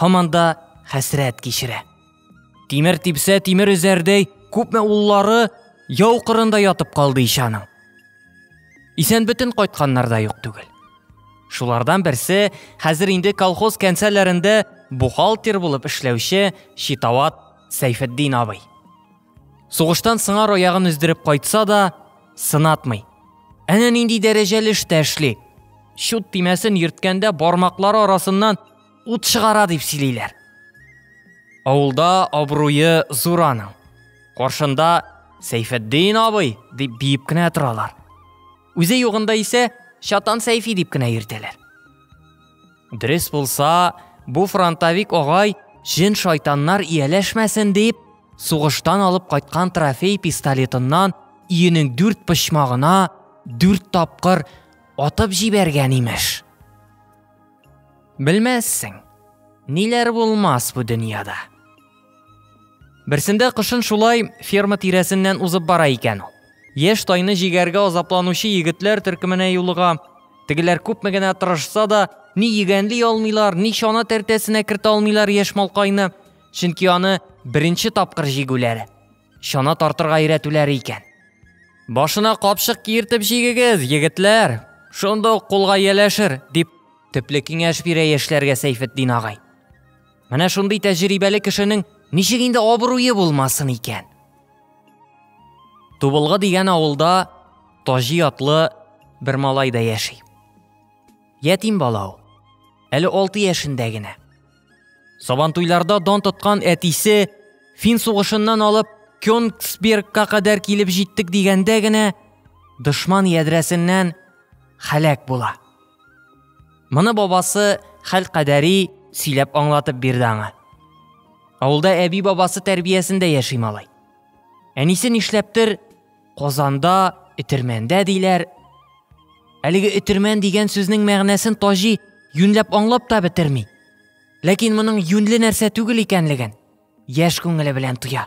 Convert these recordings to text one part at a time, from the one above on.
һаман да хәсрәт кичерә. Тимер типсә, тимер өзәрдәй, күпме уллары яу кырында ятып калды ишаның. Исән бөтен кайтканнар да юк түгел. Шулардан берсе хәзер инде колхоз кәнсәләрендә бухгалтер булып эшләүче Читават Сәйфетдин абый. Сугыштан сыңар аягын өздереп кайтса да, сынатмый. Әнә нинди дәрәҗәле эштә эшли. Чут тимәсен йөрткәндә бармаклары арасыннан ут чыгара дип сөйлиләр. Авылда абруе зур аның. Каршында Сәйфәддин абый дип биеп кенә торалар. Үзе югында исә Чатан Сәйфи дип кенә йөртәләр. Дөрес булса, бу фронтовик агай җен шайтаннар ияләшмәсен дип, сугыштан алып кайткан трофей пистолетыннан иенең дүрт почмагына дүрт тапкыр атып җибәргән имеш. Белмәссең, ниләр булмас бу дөньяда. Берсендә кышын шулай ферма тирәсеннән узып бара икән ул. Яшь тайны җигәргә азапланучы егетләр төркеменә юлыга. Тегеләр күпме генә тырышса да, ни егәнли алмыйлар, ни чана тәртәсенә кертә алмыйлар яшь малкайны, чөнки аны беренче тапкыр җигүләре. чана тартырга өйрәтүләр икән. Башына капшык киертеп җигегез, егетләр. Шунда ук кулга яләшер, дип төпле киңәш бирә яшьләргә Сәйфетдин агай. Менә шундый тәҗрибәле кешенең ничек инде абруе булмасын икән? Тубылгы дигән авылда Таҗи атлы бер малай да яши. Ятим бала ул. Әле 6 яшендә генә. Сабантуйларда дан тоткан әтисе Фин сугышыннан алып Кёнгсбергка кадәр килеп җиттек дигәндә генә дошман ядрәсеннән халәк була. Моны бабасы хәл кадәри сөйләп аңлатып бирде аңа. Авылда әби бабасы тәрбиясендә яши малай. Әнисе нишләптер Казанда этермәндә диләр. Әлеге этермән дигән сүзнең мәгънәсен Таҗи юньләп аңлап та бетерми. Ләкин моның юньле нәрсә түгел икәнлеген яшь күңеле белән тоя.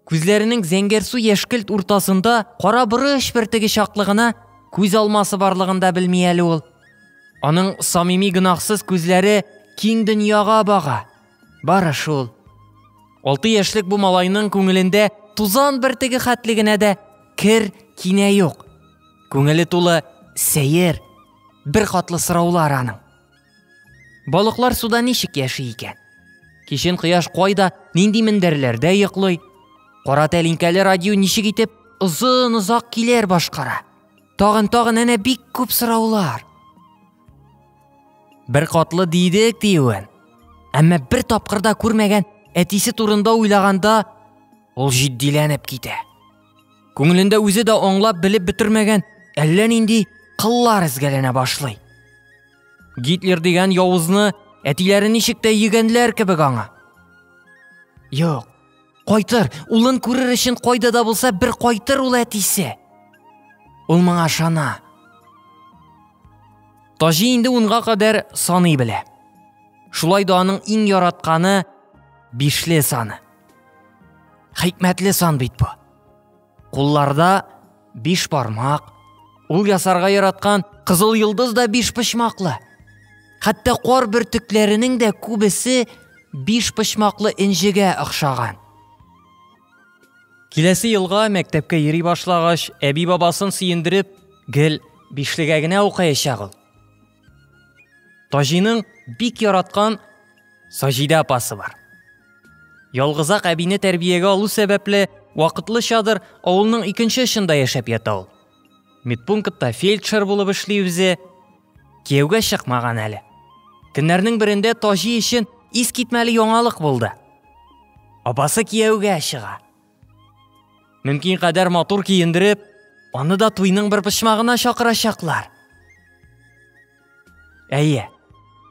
Күзләренең зәңгәр су яшькелт уртасында кара борыч бертеге чаклы гына күз алмасы барлыгын да белми әле ул. Аның самими гөнаһсыз күзләре киң дөньяга бага. Бары шул. Алты яшьлек бу малайның күңелендә тузан бертеге хәтле генә дә кер кинә юк. Күңеле тулы сәер, бер катлы сораулар аның. Балыклар суда ничек яши икән? Кичен кояш кайда, нинди мендәрләрдә йоклый? Кара тәлинкәле радио ничек итеп озын-озак килер башкара? Тагын, тагын әнә бик күп сораулар. Бер катлы дидек диюен. Әмма бер тапкырда күрмәгән әтисе турында уйлаганда ул җитдиләнеп китә. Күңелендә үзе дә аңлап белеп бетермәгән әллә нинди кыллар эзгәләнә башлый. Гитлер дигән явызны әтиләре ничек тә йөгәнләр кебек аңа. Юк, Кайтыр, улын күрер өчен кайда да булса бер кайтыр ул әтисе. Ул моңа ышана. Таҗи инде унга кадәр саный белә. Шулай да аның иң яратканы бишле саны. Хикмәтле сан бит бу. Кулларда биш бармак, ул ясарга яраткан кызыл йолдыз да биш почмаклы. Хәтта кар бөртекләренең дә күбесе биш почмаклы инжегә охшаган. Киләсе елга мәктәпкә йөри башлагач, әби бабасын сөендереп, гел бишлегә генә укыячак ул. Таҗиның бик яраткан Саҗидә апасы бар. Ялгызак әбине тәрбиягә алу сәбәпле, вакытлычадыр авылның икенче очында яшәп ята ул. Медпунктта фельдшер булып эшли үзе. Кияүгә чыкмаган әле. Көннәрнең берендә Таҗи өчен искитмәле яңалык булды. Апасы кияүгә чыга. Мөмкин кадәр матур киендереп, аны да туйның бер почмагына чакырачаклар. Әйе.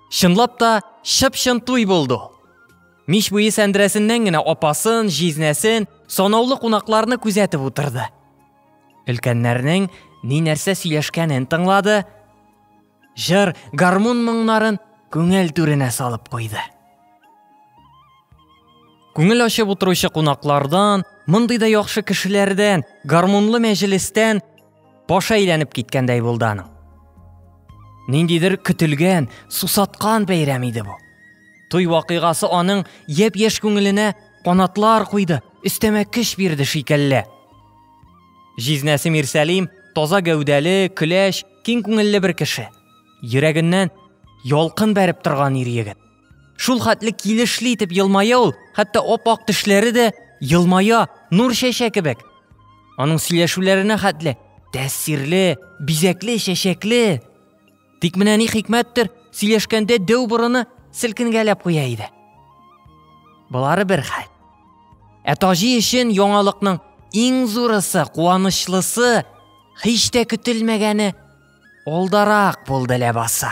Чынлап та чып-чын туй булды. Мич буе сәндерәсеннән генә апасын, җизнәсен, санаулы кунакларны күзәтеп утырды. Өлкәннәрнең ни нәрсә сөйләшкәнен тыңлады, Җыр гармун моңнарын күңел түренә салып куйды. Күңел ачып утыручы кунаклардан, мондый да яхшы кешеләрдән, гармунлы мәҗлестән баш әйләнеп киткәндәй булды аның. Ниндидер көтелгән, сусаткан бәйрәм иде бу. Туй вакыйгасы аның япь-яшь күңеленә канатлар куйды, өстәмә көч бирде шикелле. Җизнәсе Мирсәлим таза гәүдәле, көләч, киң күңелле бер кеше. Йөрәгеннән ялкын бәреп торган ир егет. Шул хәтле килешле итеп елмая ул, хәтта оп-ак тешләре дә елмая, нур чәчә кебек. Аның сөйләшүләренә хәтле тәэсирле, бизәкле, чәчәкле. Тик менә ни хикмәттер, сөйләшкәндә дәү борыны селкенгәләп куя иде. Болары бер хәл. Ә Таҗи өчен яңалыкның иң зурысы, куанычлысы, һич тә көтелмәгәне алдарак булды ләбаса.